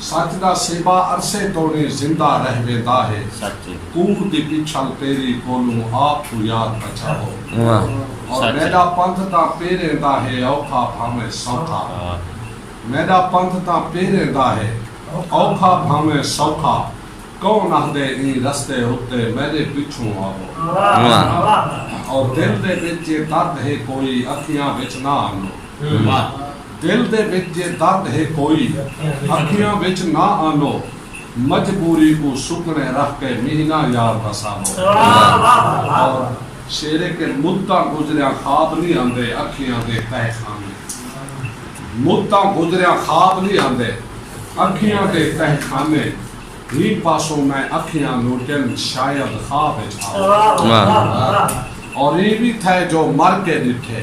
سچ دا سیبا عرصے توڑیں زندہ رہ ویندا ہے کوہ دی پچھل پیری کولوں آپ کوں یاد بچاؤ اور میڈا پندھ تاں پیریں دا ہے اوکھا بھانویں سوکھا میڈا پندھ تاں پیریں دا ہے اوکھا بھانویں سوکھا کون آہدے ایں رستے اتے میڈے پچھوں آوو اور دل دے وچ جے درد ہے کوئی اکھیاں وچ نہ آنو۔ دل دے وچ جے درد ہے کوئی اکھیاں وچ نہ آنو مجبوری کوں سکنے رکھ کے مہینہ یار دا سانو اور شعر ہے کہ مدتاں گزریاں خواب نی آندے اکھیاں دے تہہ خانے مدتاں گزریاں خواب نی آندے اکھیاں دے تہہ خانے ہی پاسوں میں اکھیاں لوٹن شاید خواب وچ آون اور ایں وی تھئے جو مر کے ڈٹھے۔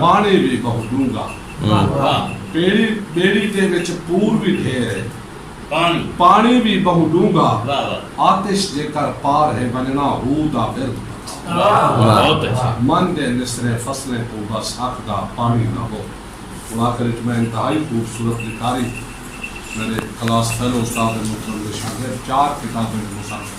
ماݨی وی ٻہوں ݙونگا پیڑی ٻیڑی دے وچ پور وی ڈھیر ہے پاݨی وی ٻہوں ݙونگا آتش جیکر پار ہے ونڄݨا ہو دا ورد پتا من دے مصرعے فصلیں کوں بس اکھ دا پاݨی نہ ہو ہݨ آخر وچ میں انتہائی خوبصورت لکھاری میݙے کلاس فیلو استاد محترم دے شاگرد چار کتابیں دے مصنف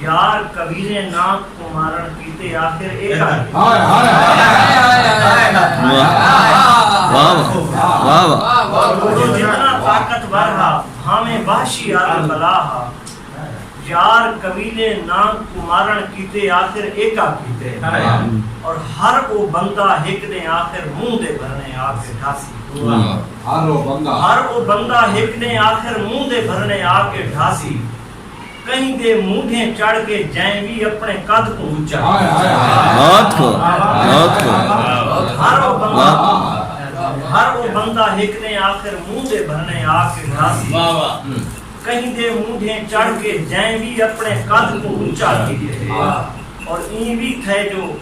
یار کبیریں ناں کوں مارن کیتے آخر اے کر گئے۔ ہائے ہائے او جتنا طاقت ور ہا بھانویں وحشی آدم بھلا ہا یار کبیریں ناں کوں مارن کیتے آخر اے کر گئے اور ہر او بندہ ہک ڈیں آخر منہ دے بھرنے آکے ڈھاسی ہر او بندہ ہک ڈیں آخر منہ دے بھرنے آکے ڈھاسی۔ کہیں دے مونڈھیں چڑھ کے جئیں وی اپنے قد توں اچا ہر او بندہ ہر او بندہ ہک نے آخر منہ دے بھرنے آ کے ڈھاسی کہیں دے مونڈھیں چڑھ کے جئیں وی اپنے قد توں اچا تھیے اور ایں وی تھے جو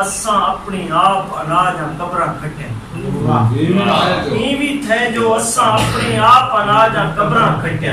اساں اپنی آپ اناج آں قبراں کھٹیں ایں وی تھے جو اساں اپنی آپ اناج آں قبراں کھٹیں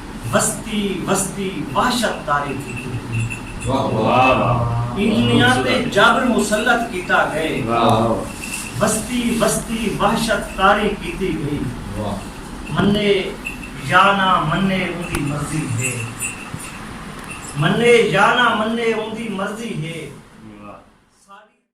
وستی وستی وحشت طاری تھیتی ہوئی انہیاں تے جبر مسلط کیتا گئے وستی وستی وحشت طاری کیتی گئی منے یا نہ منے اوندی مرضی ہے منے یا نہ منے اوندی مرضی ہے ساڈی